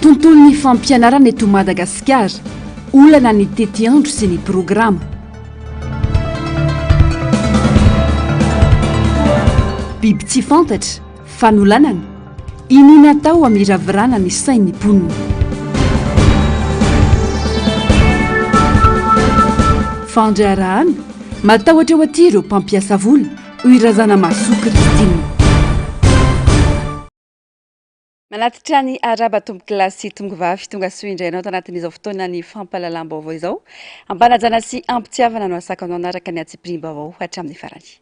Tontolon'ny fampianarana eto Madagasikara, olana ny tetiandro sy ny programa. Biby tsy fantatra, fanolanana, iniana atao hamiravirana ny sain'ny mponina. Fandraharahana, matahotra eo aty ireo mpampiasa vola. Hoy Razanamahasoa Christine. Manatitra ny araba tompokolahy sy tongovavy tonga soa indray anao tanatin'izao fotoana ny fampahalalam-baovao izao. Ampanajana sy ampitiavana no asako anao anaraka ny atsipirim-baovao hatramin'ny farany.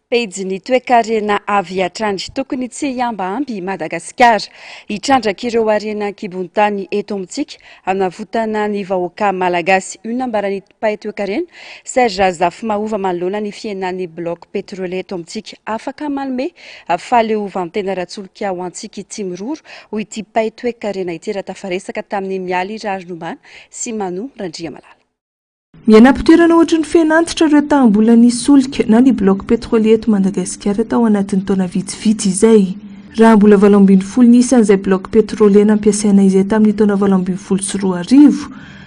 Pejy ny toekarena avy hatrany. Tokony tsy hiambahamby i Madagasikara. Hitrandraka ireo harena an-kibon-tany eto amintsika hanavotana ny vahoaka malagasy. Io nambaran'ny Mpaitoekarena, Serge Razafimahova manoloana ny fihenan'ny bloc petrolier eto amintsika. Afaka manome fahaleovantena ara-tsolika ho antsika i Tsimiroro, hoy ity mpaitoekarena ity raha tafaresaka tamin'i Mialy Rarinombana sy Manou Randriamalala. Miaina am-pitoerana ohatry ny fen'antitra ireo taham-bola nisolika na ny bloc petrolier eto Madagasikara tao anatin'ny taona vitsivitsy izay. Raha mbola valo ambin'ny folo ny isan'izay bloc petrolier nampiasaina izay tamin'ny taona valo ambin'ny folo sy roa arivo,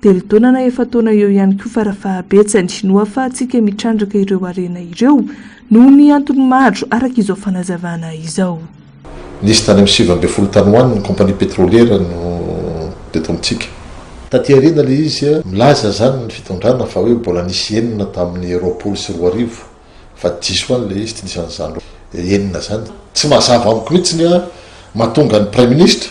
Telo taona na efa-taona eo ihany koa farafahabetsany no ahafahantsika mitrandraka ireo harena ireo noho ny antony maro araka izao fanazavana izao. Nisy tany amin'ny sivy ambin'ny folo tany ho any ny compagnie petroliera no teto amintsika. Taty aoriana ilay izy. Milaza izany ny fitondrana fa hoe mbola nisy enina tamin'ny roapolo sy roa arivo fa diso any ilay izy, tsy nisy an'izany enina izany. Tsy mazava amiko mihitsy ny mahatonga ny praiminisitra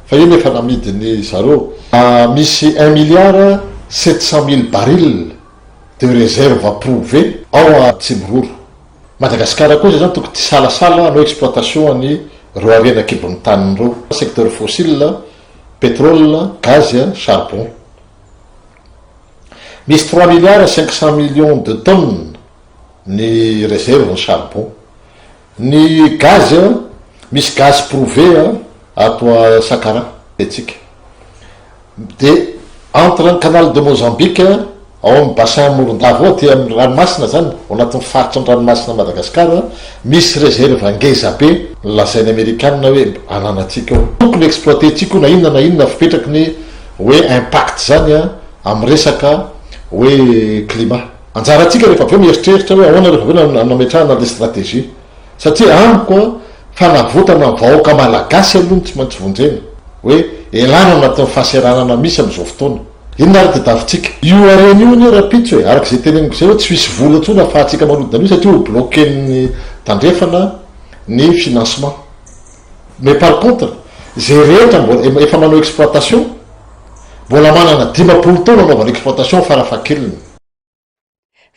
Fa iny efa namidiny zareo. Misy un milliard sept cent mille barils de reserve prouve ao Atsimo-Roro. Madagascar kosa izany tokony tsy hisalasala hanao exploitation any reo harena kibon'ny taniny reo, secteur fossile, petrole, gaz, charbon. Misy trois milliards cinq cent millions de tonnes ny reserve ny charbon. Ny gaz a, misy gaz prouvé a ato a Sakara etsika. De entre ny canal de Mozambique ao amin'ny bassin Morondava ao aty amin'ny ranomasina zany, ao anatin'ny faritry ny ranomasina Madagasikara, misy réserve ngeza be lazain'ny amerikana hoe ananantsika ao. Tokony exploiter-tsika io na inona na inona fipetraky ny hoe impact zany a amin'ny resaka hoe climat. Anjarantsika rehefa avy eo mieritreritra hoe ahoana rehefa avy eo no hametrahana an'ilay stratégie. Satria amiko an, fanavotana ny vahoaka Malagasy aloha no tsy maintsy vonjena. Hoe elana ao anatin'ny fahaseranana misy amin'izao fotoana. Inona ary dia davintsika? Io harena io anie rahampitso e, araka izay teneniko izay hoe tsy misy vola intsony afahantsika manodina an'io satria ho bloquen'ny tandrefana ny financement. Mais par contre, izay rehetra mbola, efa manao exploitation, Mbola manana dimampolo taona anaovana exploitation farafahakeliny.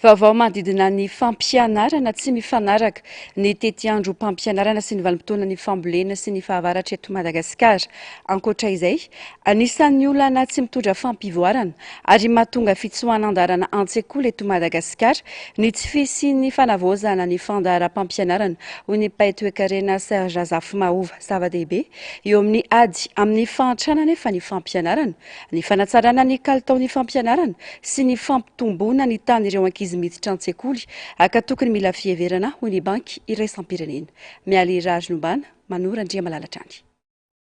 Vaovao manodidina ny fampianarana tsy mifanaraka, ny tetiandrom-pampianarana sy ny vanim-potoanan'ny fambolena sy ny fahavaratra eto Madagasikara. Ankoatra izay, anisan'ny olana tsy mitondra fampivoarana ary mahatonga fitsoahan-dalana an-tsekoly eto Madagasikara ny tsy fisian'ny fanavaozana ny fandaharam-pampianarana, hoy ny mpahay toekarena Serge Rafimahova. Zava-dehibe eo amin'ny ady amin'ny fahantrana anefa ny fampianarana, ny fanatsarana ny kalitaon'ny fampianarana sy ny fampitomboana ny tahan'ireo ankizy miditra an-tsekoly aka tokony mila fiheverana, hoy ny Banky iraisam-pirenena. Mialy Raharilombana, Manoro Andriamalala hatrany.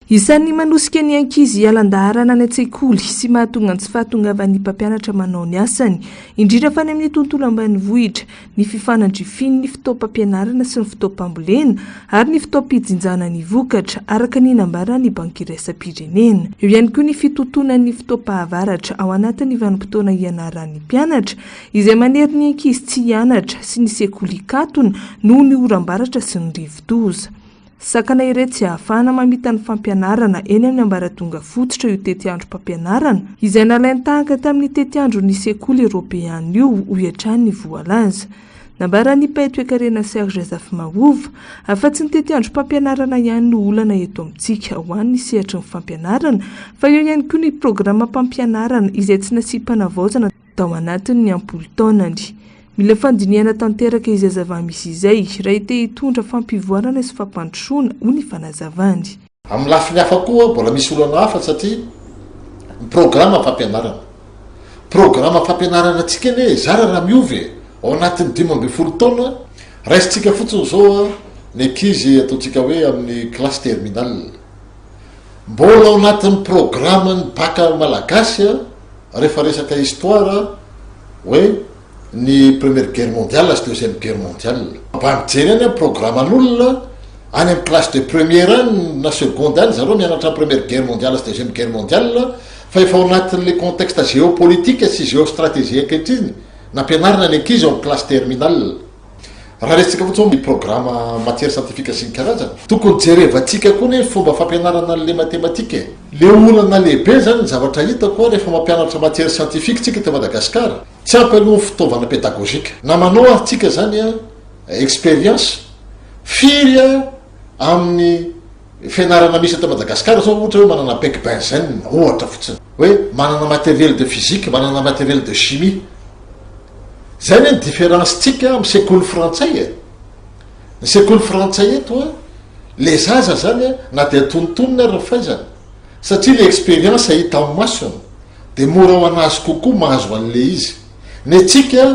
Isan'ny manosika ny ankizy hiala an-daharana any an-tsekoly sy mahatonga ny tsy fahatongavan'ny mpampianatra manao ny asany, indrindra fa any amin'ny tontolo ambanivohitra, ny fifanandrifian'ny fotoam-pampianarana sy ny fotoam-pambolena ary ny fotoam-pijinjana ny vokatra, araka ny nambaran'ny Banky Iraisam-pirenena. Eo ihany koa ny fitontonan'ny fotoam-pahavaratra ao anatin'ny vanim-potoana ianaran'ny mpianatra, izay manery ny ankizy tsy hianatra, sy ny sekoly hikatona noho ny oram-baratra sy ny rivodoza. Sakana ireto tsy ahafahana mamita ny fampianarana eny amin'ny ambaratonga fototra io tetiandrom-pampianarana izay nalain-tahaka tamin'ny tetiandron'ny sekoly eoropeana io, hoy hatrany ny voalaza. Nambaran'i Pay Toekarena Serge Zafimahova, Afa-tsy ny tetiandrom-pampianarana ihany no olana eto amintsika ho an'ny sehatry ny fampianarana fa eo ihany koa ny programam-pampianarana izay tsy nasiam-panavaozana tao anatin' ny am-polo taonany. Mila fandinihana tanteraka izay zava-misy izay, raha te hitondra fampivoarana sy fampandrosoana, hoy ny fanazavany. Amin'ny lafiny hafa koa, mbola misy olana hafa satria ny programam-pampianarana. Programam-fampianaranantsika anie zara raha miova e! Ao anatin'ny dimy ambin'ny folo taona, raisintsika fotsiny izao ny ankizy ataontsika hoe amin'ny classe terminale. Mbola ao anatin'ny programan'ny baka malagasy rehefa resaka histoire hoe ny première guerre mondiale sy deuxième guerre mondiale. Mba mijery any amin'ny programan'olona any amin'ny classe de première any na seconde any zareo mianatra ny première guerre mondiale sy deuxième guerre mondiale fa efa ao anatin'le contexte géopolitique sy géostratégie ankehitriny nampianarina ny ankizy ao amin'ny classe terminale. Raha resintsika fotsiny hoe ny programa matière scientifique sy ny karazany, tokony jerevantsika koa ny fomba fampianarana an'ilay matematika e! Le olana lehibe zany ny zavatra hitako a rehefa mampianatra matière scientifique tsika eto Madagascar, tsy ampy aloha ny fitaovana pédagogique. Na manao ary tsika zany a expérience, firy a! amin'ny fianarana misy eto Madagascar zao ohatra hoe manana bec benzene ohatra fotsiny hoe manana matériel de physique manana matériel de chimie zay ny différence tsika amin'ny sekoly frantsay e ny sekoly frantsay eto a le zaza zany a na dia tontonina ary ny faizana satria le expérience hita amin'ny masony dia mora ho an'azy kokoa mahazo an'le izy ny antsika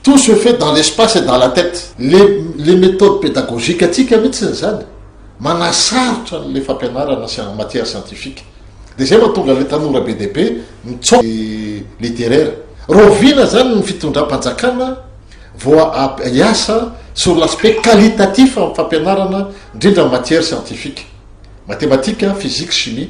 Tout se fait dans l'espace et dans la tête. Le le méthode pédagogique antsika mihitsy izany, manasarotra an'ilay fampianarana sy en matière scientifique. Dia izay mahatonga an'ilay tanora be dia be mitsaoka ny littéraire. Rahoviana izany ny fitondram-panjakana vao ha hiasa sur l'aspect qualitatif amin'ny fampianarana indrindra matière scientifique, matematika, physique, chimie.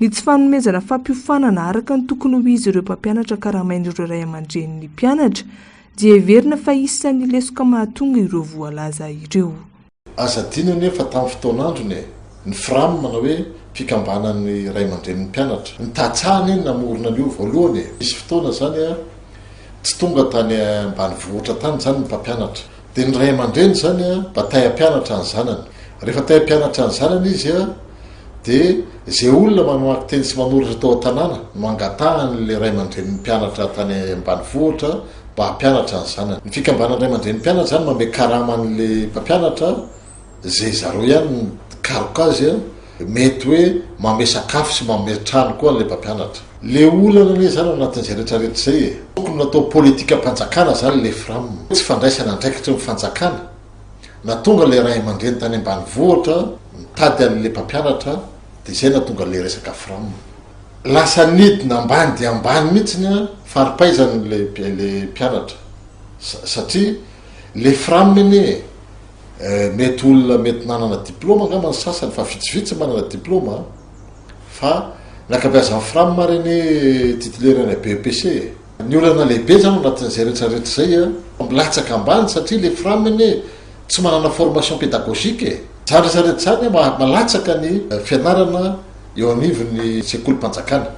Ny tsy fanomezana fampiofanana araka ny tokony ho izy ireo mpampianatra karamain'ireo ray aman-drenin'ny mpianatra dia heverina fa isan'ny lesoka mahatonga ireo voalaza ireo. Aza adino anefa tamin'ny fotoan'androny e! ny Fram na hoe fikambanan'ny ray aman-drenin'ny mpianatra ny tsa anie no namorona an'io voalohany e! nisy fotoana izany tsy tonga tany ambanivohitra tany izany ny mpampianatra Dia ny ray aman-dreny izany an, mba tay hampianatra ny zanany. Rehefa tay hampianatra ny zanany izy an, dia izay olona mamaky teny sy manoratra tao an-tanàna no angatahan'ilay ray aman-drenin'ny mpianatra tany ambanivohitra mba hampianatra ny zanany. Ny fikambanan'ny ray aman-drenim-pianatra izany manome karama an'ilay mpampianatra. ze zareo ihany no mikaroka azy an, mety hoe manome sakafo sy manome trano koa ilay mpampianatra. Le olana anie zany ao anatin'izay rehetra rehetra izay e! Tokony natao politikam-panjakana zany le fram. Tsy fandraisana andraikitry ny fanjakana na tonga le ray aman-dreny tany ambanivohitra mitady anle mpampianatra de zay natonga le resaka fram lasa nidina ambany dia ambany mihitsiny an, faripaizana ilay mpianatra satria le fram anie e! Eh, mety olona mety nanana diploma angamba ny sasany fa vitsivitsy manana diploma an. Fa ny ankabeazan'ny fram ary anie titulaire any BEPC e. Ny olana lehibe izany ao anatin'izay rehetra rehetra izay an, milatsaka ambany satria ilay fram anie tsy manana formation pédagogique e. Izany rehetra rehetra izany an maha malatsaka ny fianarana eo anivon'ny sekolim-panjakana.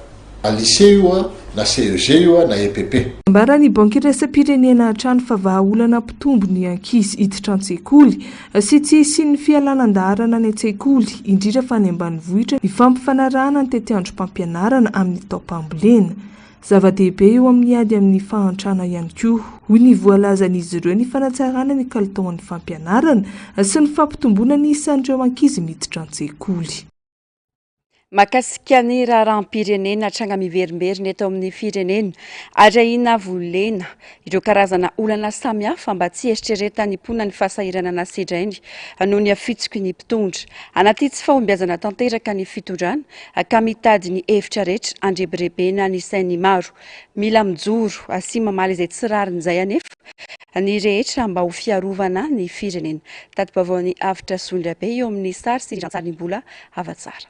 Na lycée io an, na CEG io an, na EPP. Nambaran'ny Banky Iraisam-pirenena hatrany fa vahaolana mpitombo ny ankizy hiditra an-tsekoly sy tsy hisian'ny fialana an-daharana any an-tsekoly, indrindra fa any ambanivohitra, ny fampifanarahana ny tetiandrom-pampianarana amin'ny taom-pambolena. Zava-dehibe eo amin'ny ady amin'ny fahantrana ihany koa, hoy ny voalazan'izy ireo, ny fanatsarana ny kalitaon'ny fampianarana sy ny fampitomboana ny isan'ireo ankizy miditra an-tsekoly. Mahakasika ny raharaham-pirenena hatranga miverimberina eto amin'ny firenena ary ahiana volena ireo karazana olana samihafa mba tsy heritreretan'ny mponina ny fahasahiranana sedrainy noho ny hafitsiky ny mpitondra. Anaty tsy fahombiazana tanteraka ny fitondrana ka mitady ny hevitra rehetra andrebirebena ny sain'ny maro. Mila mijoro sy mamaly izay tsy rariny izay anefa. ny rehetra mba ho fiarovana ny firenena. Tati-baovaon'ny Avotra Zondrabe eo amin'ny sary sy rantsarimbola hava-tsara.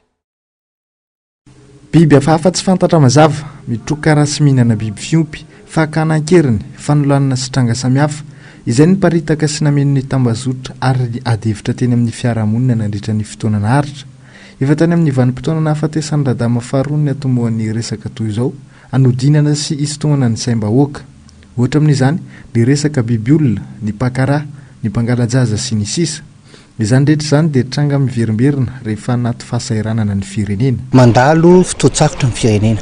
Biby hafahafa tsy fantatra mazava, mitroka ra sy mihinana biby fiompy, fakana an-keriny, fanolanana sy tranga samihafa, izay niparitaka sy nameno ny tambazotra ary adihevitra teny amin'ny fiarahamonina nandritra ny fotoana naharitra. Efa tany amin'ny vanim-potoana nahafatesan'ny Radama faharoa ny hatomohan'ny resaka toy izao, hanodinana sy hisintomana ny saim-bahoaka. Ohatra amin'izany, ny resaka bibiolona, ny mpankaraha, ny mpangala-jaza sy ny sisa Izany rehetra izany dia tranga miverimberina rehefa anaty fahasahiranana ny firenena. Mandalo fotoan-tsarotra ny firenena.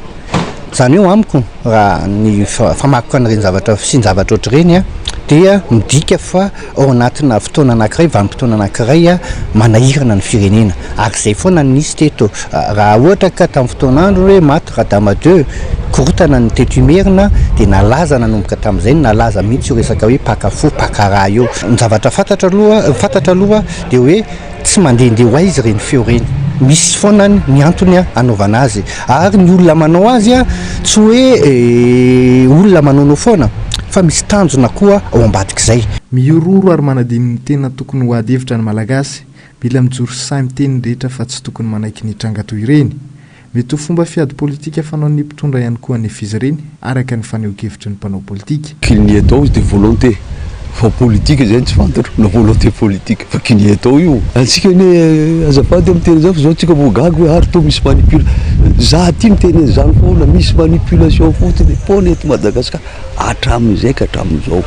Izany hoe amiko, raha ny famakoko an'ireny zavatra, fisian-javatra ohatr'ireny dia midika fa Ao anatina fotoana anankiray, vanim-potoana anankiray manahirana ny firenena. Ary izay foana no nisy teto. Raha ohatra ka tamin'ny fotoan'androny hoe maty Radama ii, korontana ny teto Imerina, dia nalaza nanomboka tamin'izay no nalaza mihitsy io resaka hoe mpaka fo, mpaka ra io. Ny zavatra fantatra aloha, fantatra aloha dia hoe. Tsy mandehandeha ho aiza ireny feo ireny? Misy foana ny antony anaovana azy ary ny olona manao azy tsy hoe olona manaonao foana fa misy tanjona koa ao ambadik'izay. Mihorohoro ary manadino ny tena tokony ho ady hevitra ny Malagasy. Mila mijoro sahy miteny ny rehetra fa tsy tokony manaiky ny tranga toy ireny. Mety ho fomba fiady politika fanaon'ny mpitondra ihany koa anefa izy ireny, araka ny fanehoan-kevitry ny mpanao politika. Qu'il n'y ait donc de volonté fa politika izay no tsy fantatro na volonté politique fa qu'il n'y ait donc io antsika anie azafady a miteny izany fa zao antsika vao gaga hoe ary toa misy manipula za aty miteny an'izany foana misy manipulation fotsiny foana eto Madagascar. hatramin'izay ka hatramin'izao.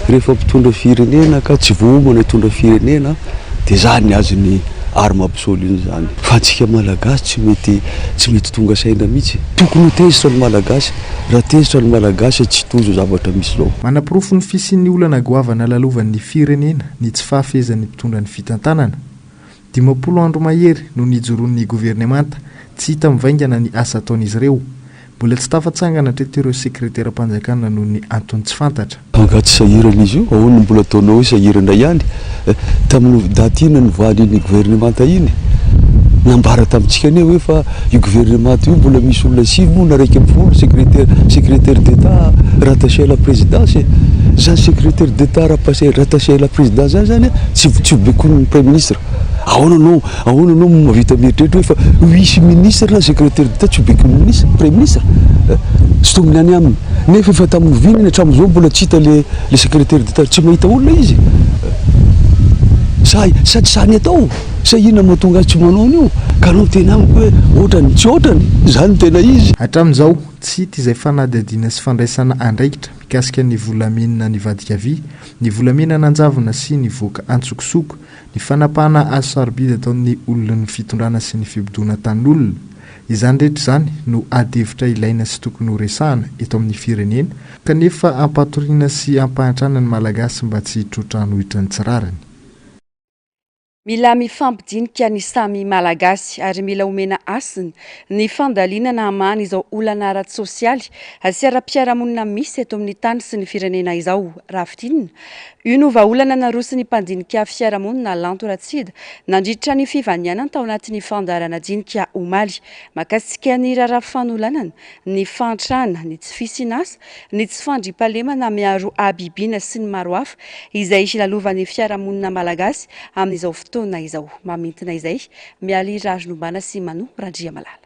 Rehefa mpitondra firenena ka tsy voaomana hitondra firenena dia zany ny azon'ny arme absolue izany. Fa antsika malagasy tsy mety tsy mety tonga saina mihitsy. Tokony ho tezitra ny malagasy. Raha tezitra ny malagasy tsy hitohy izao zavatra misy izao. Manaporofo ny fisian'ny olana goavana lalovan'ny firenena ny tsy fahafehezan'ny mpitondra ny fitantanana. Dimampolo andro mahery no nijoroan'ny governemanta, tsy hita mivaingana ny asa ataon'izy ireo. Mbola tsy tafatsangana hatreto ireo sekreteram-panjakana noho ny antony tsy fantatra. Angaha tsy sahirana izy io? Ahoana no mbola ataonao hoe sahirana ihany? Tamin'ny daty inona no nivoahan'iny governemanta iny? Nambara tamintsika anie hoe fa. Io gouvernement io mbola misy olona sivy moa na iraika ambin'ny folo secretaire secretaire d'Etat rattaché à la présidence e! Zany secretaire d'Etat rapace rattaché à la présidence zany zany a tsy tsy vobekonin'ny praiminisitra! Ahoana anao ahoana anao no mahavita mieritreritra hoe fa vice ministre na secretaire d'Etat tsy hobekonin'ny ministre praiminisitra a! Sintominy any aminy! Nefa efa tamin'ny oviana iny hatramin'izao mbola tsy hita le le secretaire d'Etat tsy mahita olona izy a! Sa sa tsy sahy ny atao? Sa inona moa tonga ahy tsy manao an'io? Ka anao miteny amiko hoe ohatrany tsy ohatrany? Izany no tena izy? Hatramin'izao, tsy hita izay fanadihadiana sy fandraisana andraikitra mikasika ny volamena nivadika vy, ny volamena nanjavona sy nivoaka antsokosoko, ny fanapahana azo sarobidy ataon'ny olon'ny fitondrana sy ny fibodoana tanin'olona. Izany rehetra izany no adihevitra ilaina sy tokony ho resahana eto amin'ny firenena kanefa ampatoriana sy ampahantrana ny Malagasy mba tsy hitroatra hanohitra ny tsy rariny. Mila mifampidinika ny samy Malagasy ary mila omena hasina ny fandalinana hamahana izao olana ara-tsosialy sy ara-piarahamonina misy eto amin'ny tany sy ny firenena izao, raha fintinina. Io no vahaolana naroson'ny mpandinika fiarahamonina Lanto Ratsida nandritra ny fivanianany tao anatin'ny fandaharana dinika omaly makasika ny raharaha fanolanana ny fahantrana, ny tsy fisian'asa, ny tsy fandriampahalemana miaro habibiana sy ny maro hafa izay hilalovan'ny fiarahamonina malagasy amin'izao fotoana izao. Mamintina izay, Mialy Raharinombana sy Manou Randriamalala.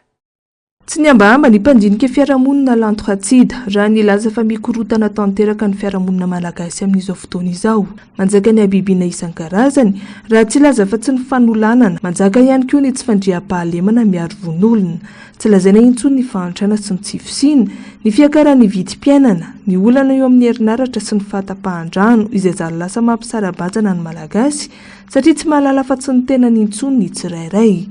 Tsy nihambahamba ny mpandinika fiarahamonina Lanto Hatsida raha nilaza fa mikorontana tanteraka ny fiarahamonina malagasy amin'izao fotoana izao. Anjakan'ny habibiana isan-karazany, raha tsy hilaza fa tsy ny fanolanana. Manjaka ihany koa ny tsy fandriampahalemana miaro vonoolona. Tsy lazaina intsony ny fahantrana sy ny tsy fisiana, ny fiakaran'ny vidim-piainana, ny olana eo amin'ny herinaratra sy ny fahatapahan-drano izay zary lasa mampisara-bazana ny Malagasy satria tsy mahalala afa tsy ny tenany intsony ny tsirairay.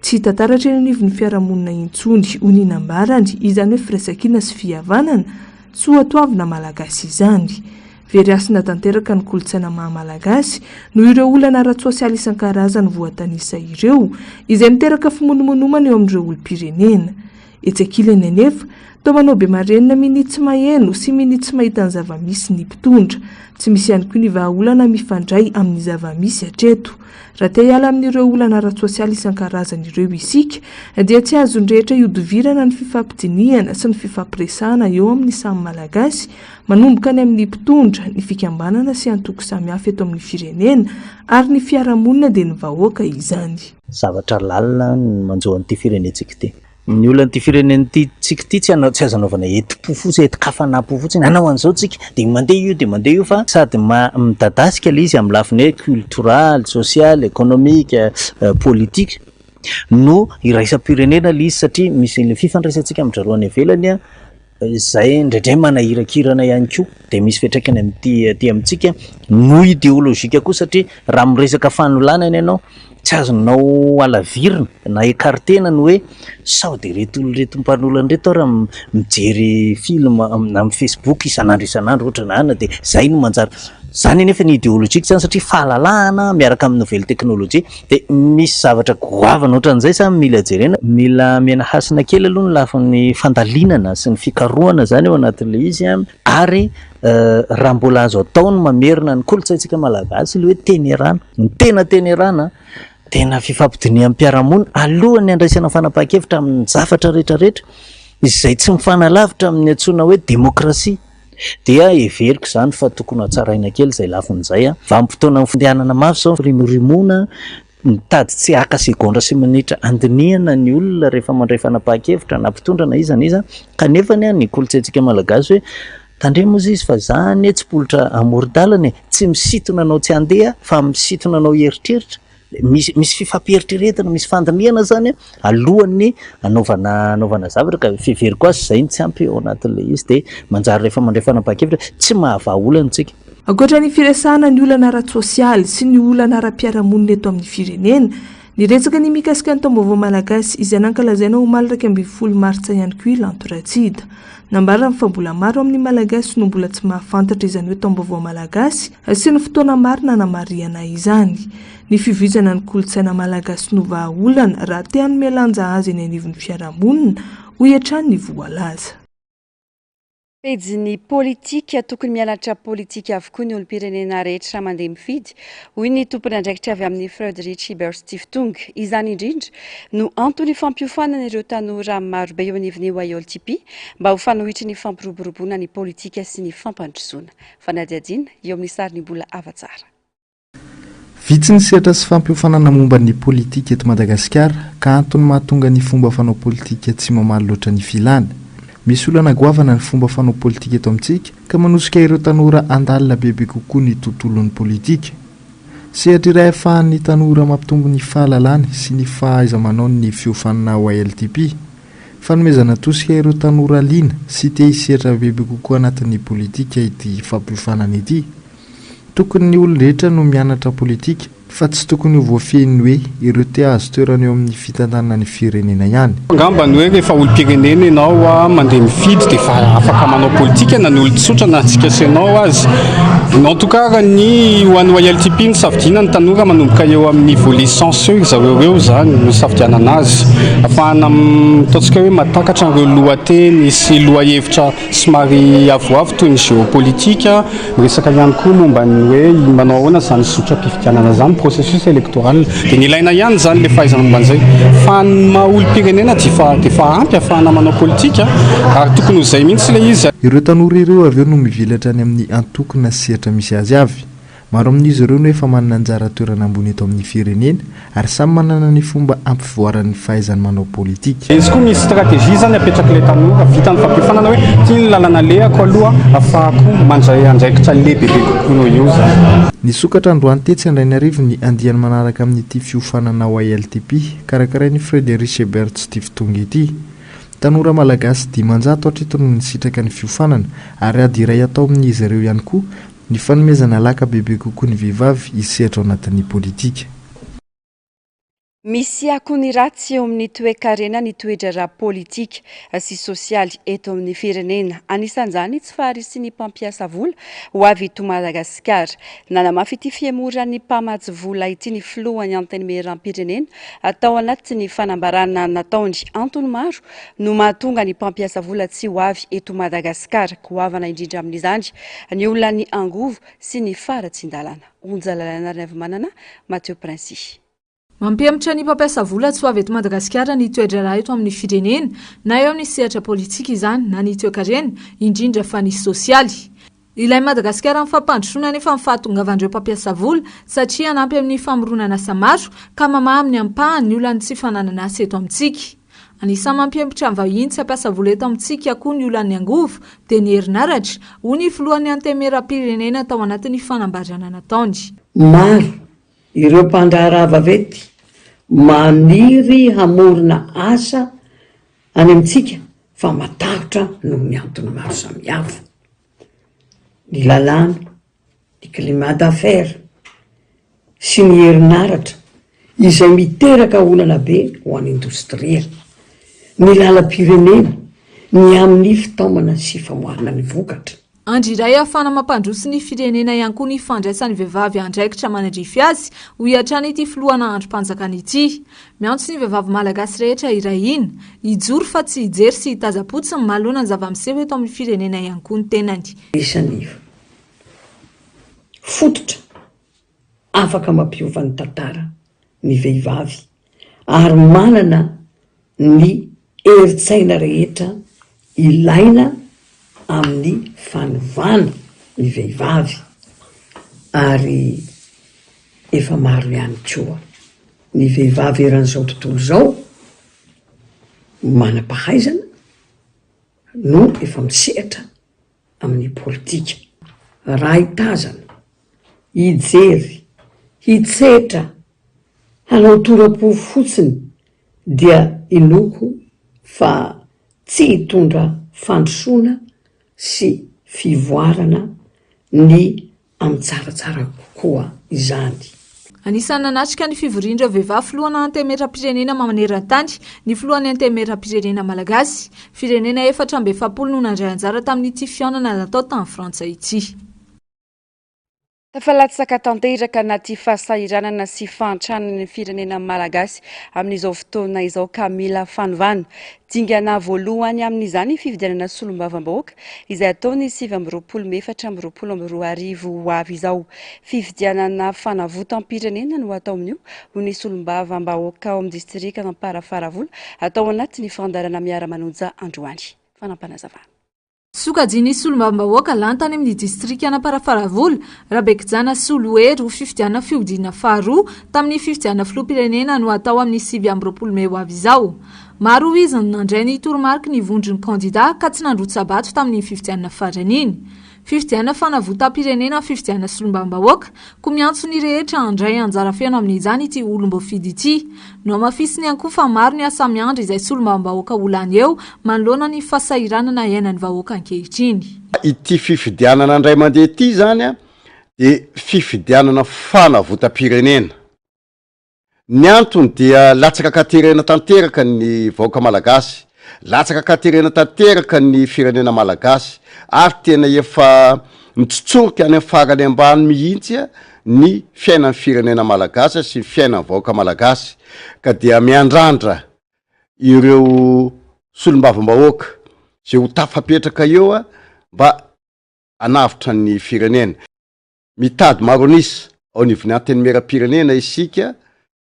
Tsy hita taratra eny anivon'ny fiarahamonina intsony, hoy ny nambarany, izany hoe firaisankina sy fihavanana, soatoavina Malagasy izany. Very hasina tanteraka ny kolontsaina maha Malagasy noho ireo olana ara-tsosialy isan-karazany voatanisa ireo, izay miteraka fimonomonomana eo amin'ireo olom-pirenena. Etsy ankilany anefa, toa manao be marenina minia tsy maheno sy minia tsy mahita ny zava-misy ny mpitondra. Tsy misy ihany koa ny vahaolana mifandray amin'ny zava-misy hatreto. Raha te hiala amin'ireo olana ara-tsosialy isan-karazany ireo isika, dia tsy azon'ny rehetra ihodivirana ny fifampidinihana sy ny fifampiresahana eo amin'ny samy Malagasy, Manomboka any amin'ny mpitondra, ny fikambanana sy antoko samihafa eto amin'ny firenena ary ny fiarahamonina dia ny vahoaka izany. Zavatra lalina no manjo an'ity firenentsika ity. Ny olan'ity firenentsika ity tsy azo anaovana hetim-po fotsiny, hetin-kafanam-po fotsiny, hanao an'izao tsika dia mandeha io dia mandeha io fa sady midadasika ilay izy amin'ny lafiny hoe cultural, social, economique, politique no iraisam-pirenena ilay izy satria misy ilay fifandraisantsika amin-dry zareo any ivelany. izay indraindray manahirakirana ihany koa dia misy fiantraikany amin'ity aty amintsika no ideolojika koa satria raha miresaka fanolanana ianao tsy azonao alavirina na ecartena ny hoe sao dia ireto olona ireto mpanolana ireto aho raha mijery film na amin'ny facebook isan'andro isan'andro ohatra na ana dia izay no manjary izany anefa ny ideolojika izany satria fahalalahana miaraka amin'ny nouvelle technologie Dia misy zavatra goavana ohatran'izay sa mila jerena? Mila amena hasina kely aloha ny lafiny fandalinana sy ny fikarohana izany ao anatin'ilay izy an, ary raha mbola azo atao ny mamerina ny kolontsaintsika malagasy ilay hoe tenerana, ny tena tenerana tena fifampidiniham-piarahamonina alohan'ny handraisana fanapahan-kevitra amin'ny zavatra rehetra rehetra izay tsy mifanalavitra amin'ny antsoina hoe demokrasia. Dia heveriko izany fa tokony hatsaraina kely izay lafiny izay. Vanim-potoanan'ny fandehanana mafy izao ny firimorimoana, mitady tsy haka segondra sy minitra handinihana ny olona rehefa mandray fanapahan-kevitra na mpitondra na iza na iza, kanefa anie ny kolontsaintsika malagasy hoe, tandremo hozy izy fa za anie tsy mpiolotra amoron-dalana e! tsy misintona anao tsy handeha fa misintona anao hieritreritra, Misy misy fifampieritreretana, misy fandinihana zany alohan'ny anaovana anaovana zavatra ka fiheveriko azy izay no tsy ampy ao anatin'ilay izy dia manjary rehefa mandray fanapahan-kevitra tsy mahavaha olana isika. Ankoatra ny firesahana ny olana ara-tsosialy sy ny olana ara-piarahamonina eto amin'ny firenena, niresaka ny mikasika ny taom-baovao malagasy izay nankalazaina omaly iraika ambin'ny folo martsa ihany koa i Lanto Ratsida. Nambarany fa mbola maro amin'ny Malagasy no mbola tsy mahafantatra izany hoe taom-baovao malagasy, Sy ny fotoana marina hanamarihana izany. Ny fivoizana ny kolontsaina malagasy no vahaolana raha te hanome lanja azy eny anivon'ny fiarahamonina, hoy hatrany ny voalaza. Pejin'ny politika, tokony mianatra politika avokoa ny olom-pirenena rehetra raha mandeha mifidy, hoy ny tompon'andraikitra avy amin'ny Freud Rich Iberstiftung. Izany indrindra no antony ifampiofanana ireo tanora marobe eo anivon'ny YOLTP mba ho fanohitry ny fampiroboroboana ny politika sy ny fampandrosoana. Fanadihadiana eo amin'ny sarin'ny mbola ava tsara. Vitsy ny sehatra sy fampiofanana momba ny politika eto Madagasikara ka antony mahatonga ny fomba fanao politika tsy mamaly loatra ny filana. Misy olana goavana ny fomba fanao politika eto amintsika ka manosika ireo tanora handalina bebe kokoa ny tontolon'ny politika. Sehatra iray ahafahan'ny tanora mampitombo ny fahalalany sy ny fahaiza-manaony ny fiofanana ao ALTP. Fanomezana tosika ireo tanora liana sy te hisedra bebe kokoa anatin'ny politika ity fampiofanana ity. Tokony ny olon-drehetra no mianatra politika fa tsy tokony ho voafehin'ny hoe ireo te hahazo toerana eo amin'ny fitantanana ny firenena ihany. Angamba ny hoe rehefa olom-pirenena ianao mandeha mifidy dia efa afaka manao politika na ny olon-tsotra na antsika sy ianao aza. En tout cas raha ny ho an'ny YLTP no safidiana ny tanora manomboka eo amin'ny volet sens Seho izy avy eo eo izany no isafidianana azy. Afahana mitaontsika hoe mahatakatra an'ireo lohateny sy lohahevitra somary avoavo toy ny géopolitique. Miresaka ihany koa momba ny hoe manao ahoana izany zotram-pifidianana izany, processus électoral. Dia ny ilaina ihany izany ilay fahaizana momba an'izay. Fa ny maha olom-pirenena dia efa dia efa ampy afahana manao politika ary tokony ho izay mihitsy ilay izy. Ireo tanora ireo avy eo no mivelatra any amin'ny antokona sehatra misy azy avy. Maro amin'izy ireo no efa manana anjara toerana ambony eto amin'ny firenena ary samy manana ny fomba hampivoarany ny fahaizany manao politika. Izy koa misy stratégie zany apetrak'ilay tanora, vitan'ny fampiofanana hoe ty ny lalana alehako aloha afahako mandray andraikitra lehibebe kokoa noho io zany. Nisokatra androany tetsy Andrainarivo ny andiany manaraka amin'ity fiofanana ao ILTP, karakarain'i Fred Richebert tsy tia fitongy ity. Tanora Malagasy dimanjato hatreto no nisitraka ny fiofanana ary ady iray atao amin'izy ireo ihany koa Ny fanomezana laka bebe kokoa ny vehivavy hisehatra ao anatin'ny politika. Misy akony ratsy eo amin'ny toekarena ny toe-draharaha politika sy sosialy eto amin'ny firenena. Anisan'izany ny tsy faharisian'ny mpampiasa vola ho avy eto Madagasikara. Nanamafy ity fihemoran'ny mpamatsy vola ity ny filohan'ny Antenimierampirenena tao anatin'ny fanambarana nataony. Antony maro no mahatonga ny mpampiasa vola tsy ho avy eto Madagasikara. Goavana indrindra amin'izany ny olan'ny angovo sy ny faharatsian-dalana. Onja Lalaianarinavimanana, Mathieu Princi. Mampihemotra ny mpampiasa vola tsy ho avy eto Madagasikara ny toe-draharaha eto amin'ny firenena, na eo amin'ny sehatra politika izany na ny toe-karena, indrindra fa ny sosialy. Ilain'i Madagasikara ny fampandrosoana anefa ny fahatongavan'ireo mpampiasa vola satria hanampy amin'ny famoronana asa maro ka mamaha amin'ny ampahany ny olan'ny tsy fananana asa eto amintsika. Anisan'ny mampihemotra ny vahiny tsy hampiasa vola eto amintsika koa ny olan'ny angovo dia ny herinaratra, hoy ny filohan'ny Antenimierampirenena tao anatin'ny fanambarana nataony. Maro ireo mpandraharaha vaventy maniry hamorona asa Any amintsika fa matahotra noho ny antony maro samihafa, ny lalàna, ny climat d'affaires sy ny herinaratra izay miteraka olana be ho an'ny indostria, ny lalam-pirenena, ny amin'ny fitaomana sy famoahana ny vokatra. Andry iray ahafahana mampandroso ny firenena ihany koa ny fandraisan'ny vehivavy andraikitra manadrify azy, hoy hatrany ity filohana andrim-panjakana ity. Miantso ny vehivavy malagasy rehetra hiray hina, hijoro fa tsy hijery sy hitazam-potsiny manoloana ny zava-miseho eto amin'ny firenena ihany koa ny tenany. Isan'ny fototra afaka mampiova ny tantara ny vehivavy ary manana ny herin-tsaina rehetra ilaina amin'ny fanovana ny vehivavy ary efa maro ihany koa ny vehivavy eran'izao tontolo izao manam-pahaizana no efa misehatra amin'ny politika. Raha hitazana, hijery, hitsetra, hanao tora-po fotsiny dia inoako fa tsy hitondra fandrosoana sy fivoarana ny amin'ny tsaratsara kokoa izany. Anisan'ny nanatrika ny fivorian'ireo vehivavy filohan'ny Antenimierampirenena maneran-tany ny filohan'ny Antenimierampirenena malagasy. Firenena efatra amby efapolo no nandray anjara tamin'ity fihaonana natao tany Frantsa ity. Tafalatsaka tanteraka anaty fahasahiranana sy fahantrana ny firenena malagasy amin'izao fotoana izao ka mila fanovana. Dingana voalohany amin'izany fifidianana solombavambahoaka izay hatao ny sivy amby roapolo mey efatra amby roapolo amby roa arivo ho avy izao. Fifidianana fanavotam-pirenena no hatao amin'io, hoy ny solombavambahoaka ao amin'ny distrika Amparafaravola, hatao anatin'ny fandaharana Miara-manonja androany. Fanampinazavana. Sokajian'ny solombavambahoaka lantany amin'ny distrikan'Amparafaravola, Rabekijana Solohery ho fifidianana fihodinana faharoa tamin'ny fifidianana filoham-pirenena no hatao amin'ny sivy amby roapolo mey ho avy izao. Maro hoy izy no nandray ny toromariky ny vondron'ny kandida ka tsy nandrotsa-bato tamin'iny fifidianana farany iny. Fifidianana fanavotam-pirenena fifidianana solombavambahoaka, Koa miantso ny rehetra handray anjara feno amin'izany ity olom-boafidy ity. Nohamafisiny ihany koa fa maro ny asa miandry izay solombavambahoaka ho lany eo manoloana ny fasahiranana iainan'ny vahoaka ankehitriny. Ity fifidianana indray mandeha ity izany dia fifidianana fanavotam-pirenena. Ny antony dia latsaka an-katerena tanteraka ny vahoaka malagasy, latsaka an-katerena tanteraka ny firenena malagasy ary tena efa mitsotsorika any amin'ny farany ambany mihitsy ny fiainan'ny firenena malagasy sy ny fiainan'ny vahoaka malagasy ka dia miandrandra ireo solombavambahoaka izay ho tafapetraka eo mba hanavotra ny firenena. Mitady maro an'isa ao anivon'ny Antenimierampirenena isika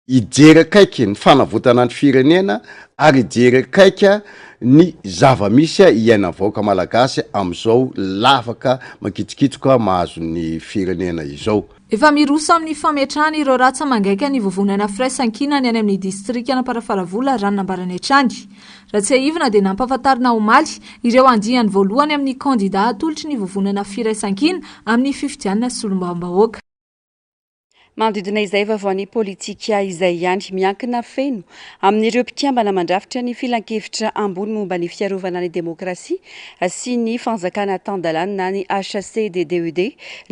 hijery akaiky ny fanavotana ny firenena ary hijery akaika ny zava-misy iainan'ny vahoaka malagasy amin'izao lavaka mankitsokitsoka mahazo ny firenena izao. Efa miroso amin'ny fametrahana ireo ratsa mangaika ny vovonana firaisankinany any amin'ny distrikan'Amparafaravola raha ny nambarany hatrany. Raha tsiahivina dia nampahafantarina omaly ireo andiany voalohany amin'ny kandida hatolotry ny vovonana firaisankina amin'ny fifidianana solombavambahoaka. Manodidina izay vaovaon'ny politika izay ihany, miankina feno amin'ireo mpikambana mandrafitra ny Filankevitra ambony momba ny fiarovana ny demokrasia sy ny fanjakana tan-dalàna na ny HCDDUD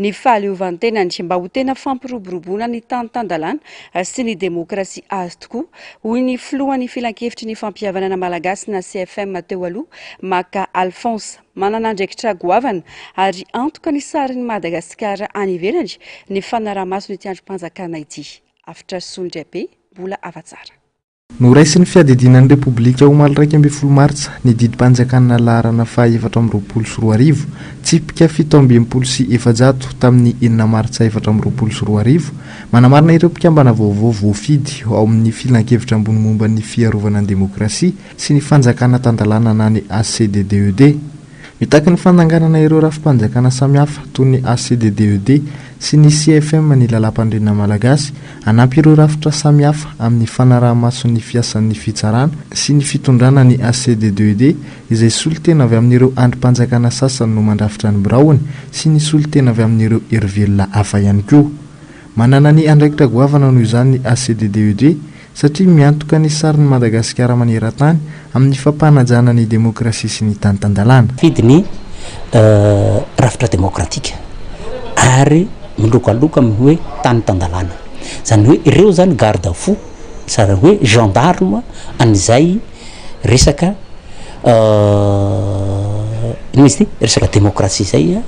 ny fahaleovantenany mba ho tena fampiroboroboana ny tany tan-dalàna sy ny demokrasia azy tokoa Hoy ny filohan'ny Filankevitry ny Fampihavanana Malagasy na CFM teo aloha, Maka Alphonse. Manana andraikitra goavana ary antoka ny sarin'i Madagasikara any ivelany ny fanaraha-maso ity andrim-panjakana ity. Avotra solondraibe, mbola afa-tsara. Noraisin'ny Fiadidiana ny Repoblika omaly iraika ambin'ny folo martsa ny didim-panjakana laharana fahaefatra amby roapolo sy roa arivo, tsipika fito amby enimpolo sy efajato tamin'ny enina martsa efatra amby roapolo sy roa arivo, Manamarina ireo mpikambana vaovao voafidy ao amin'ny Filankevitra Ambony Momba ny Fiarovana ny Demokrasia sy ny Fanjakana Tan-dalàna na ny ACDDED. Mitaky ny fandanganana ireo rafi-panjakana samihafa toy ny ACDDED sy ny CFM ny Lalàmpanorenana Malagasy hanampy ireo rafitra samihafa amin'ny fanaraha-maso ny fiasan'ny Fitsarana sy ny Fitondrana ny ACDDED izay solontena avy amin'ireo andrim-panjakana sasany no mandrafitra ny biraony sy ny solontena avy amin'ireo herivelona hafa ihany koa. Manana ny andraikitra goavana noho izany ny ACDDED satria miantoka ny sarin'i Madagasikara maneran-tany amin'ny fampanajana ny demokrasia sy ny tany tan-dalàna. Mifidy ny rafitra demokratika ary milokaloka amin'ny hoe tany tan-dalàna. Izany hoe ireo izany garde fou, izany hoe gendarmes an'izay. Resaka inona izy ity? Resaka demokrasia zay a,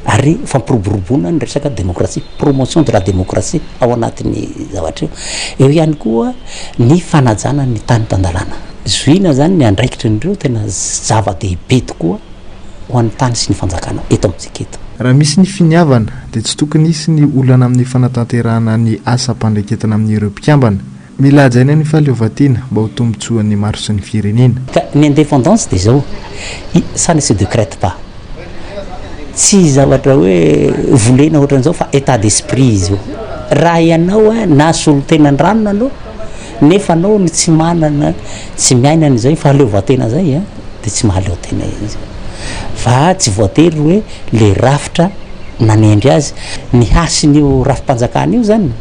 ary fampiroboroboana ny resaka demokrasia, promotion de la demokrasia ao anatin'ny zavatra io. Eo ihany koa ny fanajana ny tany tan-dalàna. Zohiana zany ny andraikitry ny reo tena zava-dehibe tokoa ho an'ny tany sy ny fanjakana eto amintsika eto. Raha misy ny finiavana, dia tsy tokony hisy ny olana amin'ny fanatanterahana ny asam-pandraiketana amin'ireo mpikambana. Mila hajaina ny fahaleovantiana mba ho tombotsoan'ny maro sy ny firenena. Ka ny indépendance dia izao, ça ne se decrète pas. Tsy zavatra hoe volena ohatran'izao fa état d'esprit izy io. Raha ianao na solotena an-drano anao nefa anao no tsy manana, tsy miaina an'izay fahaleovantena izay an, dia tsy mahaleo tena izy. Fa tsy voatery hoe le rafitra nanendry azy. Ny hasin'io rafi-panjakana io izany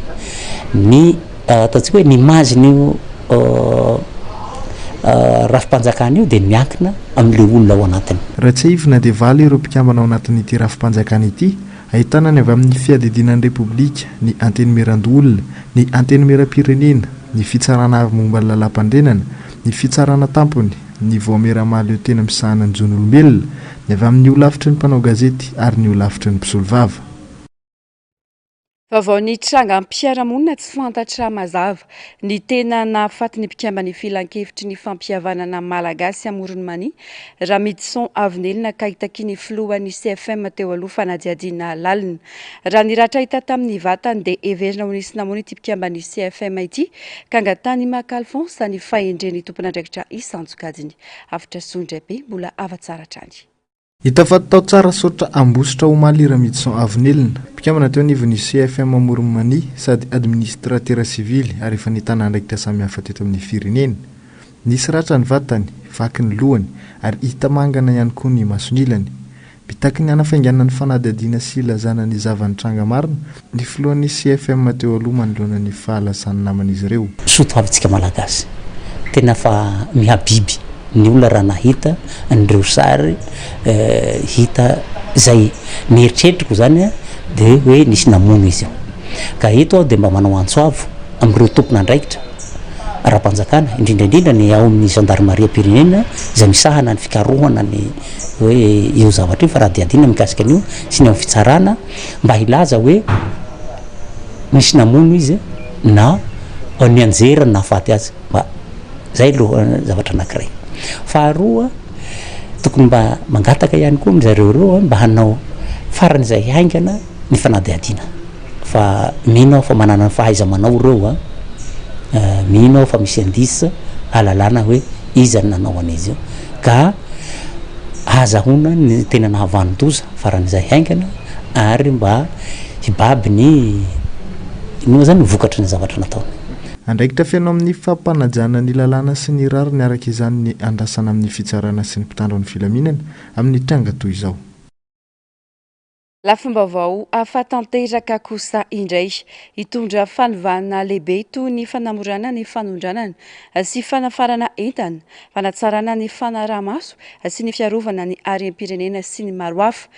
ny. Ataontsika hoe ny image-n'io rafi-panjakana io dia miankina amin'ilay olona ao anatiny. Raha tsiahivina dia valo ireo mpikambana ao anatin'ity rafi-panjakana ity, ahitana ny avy amin'ny Fiadidiana ny Repoblika, ny Antenimierandoholona, ny Antenimierampirenena, ny Fitsarana Avo momba ny Lalàmpandrenana, ny Fitsarana Tampony, ny Vaomiera Mahaleo Tena Misahana ny Zon'Olombelona, ny avy amin'ny Holafitry ny Mpanao Gazety ary ny Holafitry ny Mpisolovava. Vaovao nitranga am-piarahamonina tsy fantatra mazava. Ny tena nahafaty ny mpikamban'ny Filankevitry ny fampihavanana Malagasy Amoron'i Mania, Ramidison Avinelina kay takia ny filohan'ny CFM teo aloha fanadihadiana lalina. Raha ny ratra hita tamin'ny vatany dia heverina ho nisy namono ity mpikamban'ny CFM ity k'Angatanimaka Alphonse ny fahendren'ny tompon'andraikitra isan-tsokajiny. Hafatra Sondrabe mbola hava tsara hatrany. Hita fa tao tsara saotra Ambositra omaly i Ramidison Ravinelina, mpikambana teo anivon'ny CFM Amoron'i Mania sady administratera sivily ary efa nitana andraikitra samihafa teto amin'ny firenena. Nisy ratra ny vatany, vaky ny lohany ary hita mangana ihany koa ny mason'ilany. Mitaky ny hanafainganana ny fanadihadiana sy hilazana ny zava-nitranga marina Ny filohan'ny CFM teo aloha manoloana ny fahalazan'ny naman'izy ireo. Soa toavintsika malagasy. Tena fa mihabiby ny olona raha nahita an'ireo sary hita izay. Ny eritreritriko izany dia hoe nisy namono izy io. Ka eto aho dia mba manao antso avo amin'ireo tompon'andraikitra ara-panjakana, indrindra indrindra ny ao amin'ny zandarimariam-pirenena izay misahana ny fikarohana ny hoe io zavatra io, fanadihadiana mikasika an'io sy ny ao amin'ny fitsarana, mba hilaza hoe nisy namono izy na nianjera ny nahafaty azy mba zay aloha zavatra anankiray faharoa tokony mba mangataka ihany koa amizareo reo mba hanao farany izay haingana ny fanadihadiana fa mino aho fa manana ny fahaiza manao reo a eh, mino aho fa misy indice alalana hoe iza ny nanao an'izy io ka Azahoana ny tena nahavanon-doza faran'izay haingana ary mba hibaby ny inona moa izany ny vokatry ny zavatra nataony. Andraikitra feno amin'ny fampanajana ny lalàna sy ny rariny araka izany ny andrasana amin'ny fitsarana sy ny mpitandro ny filaminana amin'ny tranga toy izao. Lafim-baovao hafa tanteraka kosa indray, hitondra fanovana lehibe toy ny fanamorana ny fanondranana sy fanafarana entana, fanatsarana ny fanaraha-maso sy ny fiarovana ny harem-pirenena sy ny maro hafa.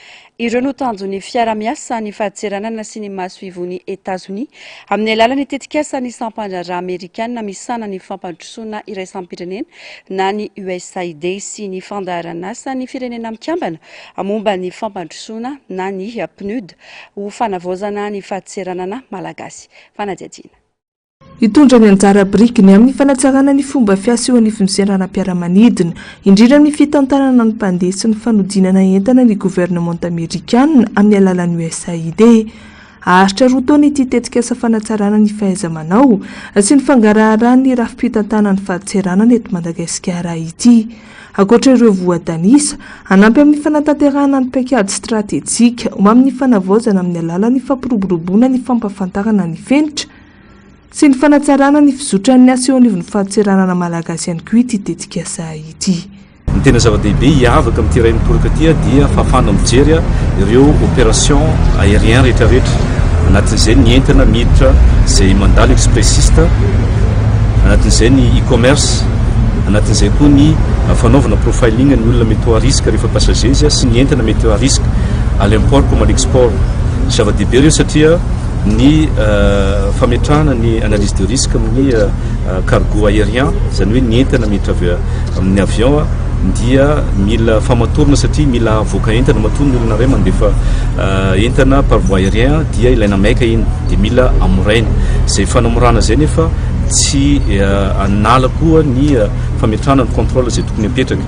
Ireo no tanjon'ny fiarahamiasa ny fahatseranana sy ny masoivohon'i Etazonia amin'ny alalan'ny tetikasan'ny sampandraharaha amerikana misahana ny fampandrosoana iraisam-pirenena na ny USAID sy ny fandaharan'asan'ny Firenena Mikambana momba ny fampandrosoana na ny PNUD ho fanavaozana ny fadseranana malagasy. Fanadihadiana. Hitondra ny anjara birikiny amin'ny fanatsarana ny fomba fiasa eo anivon'ny seranam-piaramanidina, indrindra amin'ny fitantanana ny mpandeha sy ny fanodinana entana ny governemanta amerikanina amin'ny alalan'ny USAID. Haharitra roa taona ity tetikasa fanatsarana ny fahaiza-manao sy ny fangaraharahan'ny rafi-pitantanan'ny fadseranana eto Madagasikara ity. Ankoatra ireo voatanisa, hanampy amin'ny fanatanterahana ny paikady stratejika ho amin'ny fanavaozana amin'ny alalan'ny fampiroboroboana ny fampahafantarana ny fenitra sy ny fanatsarana ny fizotran'ny asa eo anivon'ny fadintseranana malagasy ihany koa ity tetikasa ity. Ny tena zava-dehibe hiavaka amin'ity iray miporoka ity dia fahafahana mijery ireo opération aérien rehetrarehetra, anatin'izay ny entana miditra izay mandalo expressiste, anatin'izay ny e-commerce, Anatin'izay koa ny fanaovana profiling ny olona mety ho à risque rehefa passagers sy ny entana mety à risque à l'import comme à l'export. Zava-dehibe ireo satria ny fametrahana ny analyse de risque amin'ny cargo aérien, izany hoe ny entana miditra avy amin'ny avion, dia mila famatorana satria mila avoaka entana matoa ny olona iray mandefa entana par voie aérien dia ilaina maika iny dia mila amoraina. Izay fanamorana izay nefa. tsy hanala koa ny fametrahana ny contrôle izay tokony hapetraka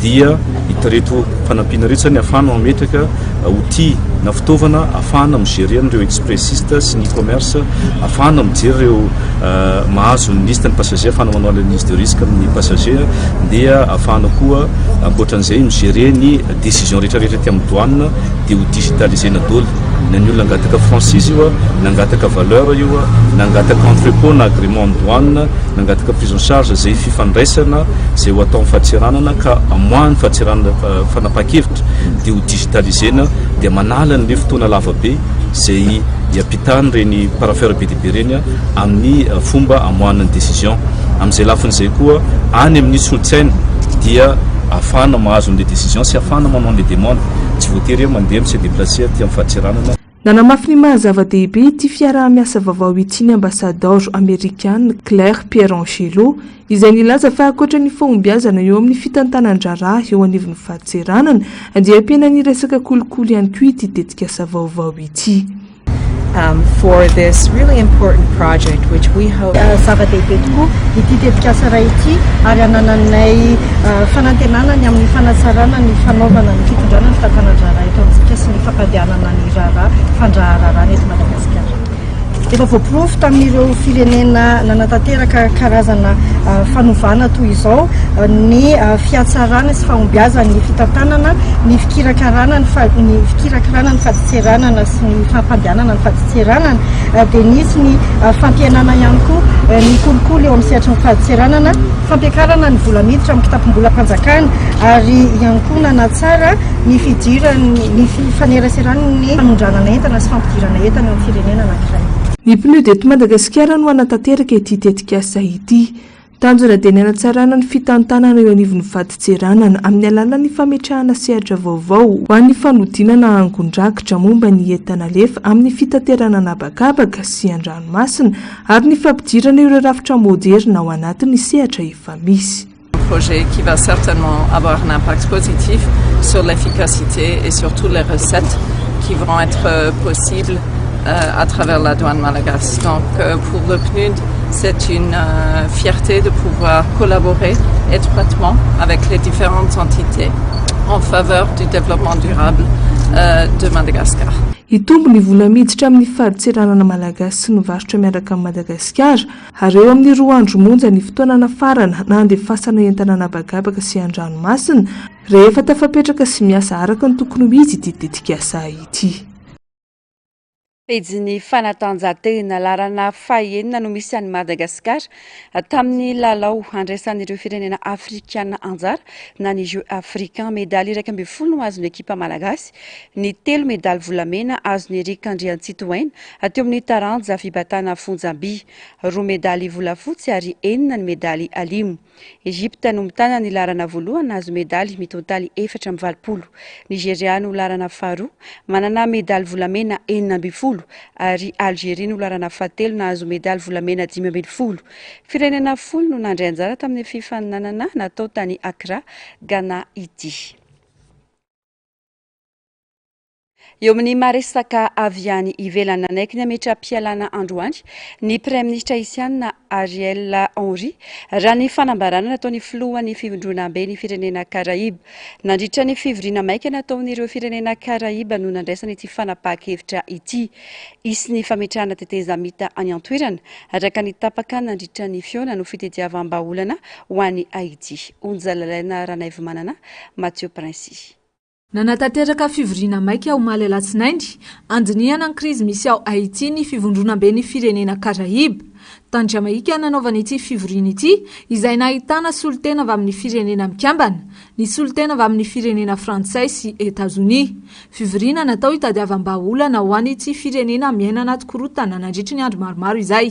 dia itareto fanampiana ireto izany afahana mametraka outil na fitaovana afahana migerer ireo expressiste sy ny commerce afahana mijery ireo euh, mahazo ny liste ny passager afahana manao analyse de risque amin'ny passager dia afahana koa ankoatran'izay migerer ny décision rehetrarehetra ety amin'ny douane dia ho digitalisena doly Na ny olona nangataka franchise io, nangataka valeur io, nangataka entrepot na agreement ny douane, nangataka prise en charge zay fifandraisana zay ho atao amin'ny fahatseranana ka amoahany fahatseranana fanapahan-kevitra dia ho digitaliser-na dia manala an'ilay fotoana lava be zay iampitany ireny parapheur be dia be ireny amin'ny fomba amoahana ny decision. Amin'izay lafiny izay koa any amin'ny solon-tsaina dia ahafahana mahazo an'ilay decision sy ahafahana manao an'ilay demande. Tsy voatery hoe mandeha amin'ny CDPH. Placé aty am Fatsiranana. Nanamafy ny maha zava-dehibe ity fiaraha-miasa vaovao ity ny Ambasadaoro Amerikana Claire Pierangelo, izay nilaza fa ankoatra ny fahombiazana eo amin'ny fitantanan-draharaha eo anivon'ny Fahatseranana, dia ampiana ny resaka kolikoly ihany koa ity tetikasa vaovao ity. for this really important project which we hope Zava-dehibe tokoa ity tetikasa iray ity ary anananay fanantenana ny amin'ny fanatsarana ny fanaovana ny fitondrana ny fitantanan-draharaha eto amintsika sy ny fampandehanana ny raharaha fandraharaharaha eto Madagasikara. Efa voaporofo tamin'ireo firenena nanatanteraka karazana fanovana toy izao ny fihatsarana sy fahombiazan'ny fitantanana, ny fikirakarana ny fikirakarana ny fadintseranana sy ny fampandehanana ny fadintseranana dia nisy ny fampihenana ihany koa ny kolikoly eo amin'ny sehatry ny fadintseranana, fampiakarana ny vola miditra amin'ny kitapom-bolam-panjakana ary ihany koa nanatsara ny fidiran'ny ny fifaneraseran'ny fanondranana entana sy fampidirana entana eo amin'ny firenena anankiray. Ny PNUD eto Madagasikara no hanatanteraka ity tetikasa ity. Tanjona dia ny hanatsarana ny fitantanana eo anivon'ny vadin-tseranana amin'ny alalan'ny fametrahana sehatra vaovao ho an'ny fanodinana angon-drakitra momba ny entan'Alefa amin'ny fitaterana an'habakabaka sy an-dranomasina ary ny fampidirana ireo rafitra moderina ao anatin'ny sehatra efa misy. Un projet qui va certainement avoir un impact positif sur l'efficacité et surtout les recettes qui vont être possibles à travers la douane malagasy. Donc, pour le PNUD, C'est une fierté de pouvoir collaborer étroitement avec les différentes entités en faveur du développement durable de Madagascar. Hitombo ny vola miditra amin'ny fadintseranana malagasy sy ny varotra miaraka amin'i Madagasikara, ary eo amin'ny roa andro monja ny fotoana nafarana na handefasana entana an'habakabaka sy an-dranomasina, rehefa tafapetraka sy miasa araka ny tokony ho izy ity tetikasa ity. Pejin'ny fanatanjahantena laharana fahenina no misy an'i Madagasikara tamin'ny lalao andraisan'ireo firenena afrikana anjara na ny Jeux africains. Medaly iraika ambin'ny folo no azon'ny ekipa malagasy, ny telo medaly volamena azon'i Eric Andriantsitohaina teo amin'ny taranja fibatana fonjam-by, roa medaly volafotsy ary enina ny medaly alimo. Egypta no mitana ny laharana voalohany nahazo medaly mitontaly efatra amby valopolo. Nigeria no laharana faharoa, manana medaly volamena enina ambin'ny folo ary Algeria no laharana fahatelo nahazo medaly volamena dimy ambin'ny folo. Firenena folo no nandray anjara tamin'ny fifaninanana natao tany Accra, Ghana ity. Eo amin'ny maha resaka avy any ivelany nanaiky ny hametra-pialana androany ny Praiminisitra Isiana Ariel Henry raha ny fanambarana nataon'ny filohan'ny fivondronamben'ny firenena Karaiba. Nandritra ny fivoriana maika nataon'ireo firenena Karaiba no nandraisana ity fanapahan-kevitra ity. Hisy ny fametrahana tetezamita any an-toerana araka ny tapaka nandritra ny fihaonana ho fitediavam-bahaolana ho any Haiti. Onjalalaina Ranaivomanana, Mathieu Princi. Nanatanteraka fivoriana maika omaly alatsinainy, handinihana ny krizy misy ao Haiti ny Fivondronamben'ny Firenena Karaiba. Tany Jamaika nanaovana ity fivoriana ity, izay nahitana solontena avy amin'ny Firenena Mikambana, ny solontena avy amin'ny Firenena Frantsay sy Etazonia. Fivoriana natao hitadiavam-bahaolana ho an'ity firenena miaina anaty korontana nandritry ny andro maromaro izay.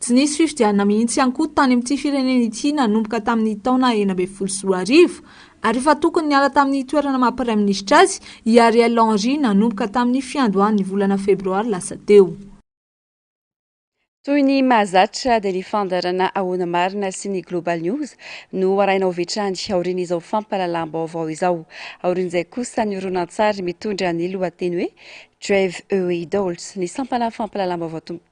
Tsy nisy fifidianana mihitsy ihany koa tany amin'ity firenena ity nanomboka tamin'ny taona enina ambin'ny folo sy roa arivo, ary efa tokony niala tamin'ny toerana maha praiminisitra azy i Ariel Henry nanomboka tamin'ny fiandohan'ny volana febroary lasa teo. Toy ny mahazatra dia ny fandaharana Ahoana Marina sy ny Global News no arahina ho vitrany aorian'izao fampahalalam-baovao izao. Aorian'izay kosa ny horonantsary mitondra ny lohateny hoe Drive Away Dolls, ny sampana fampahalalam-baovao tompo.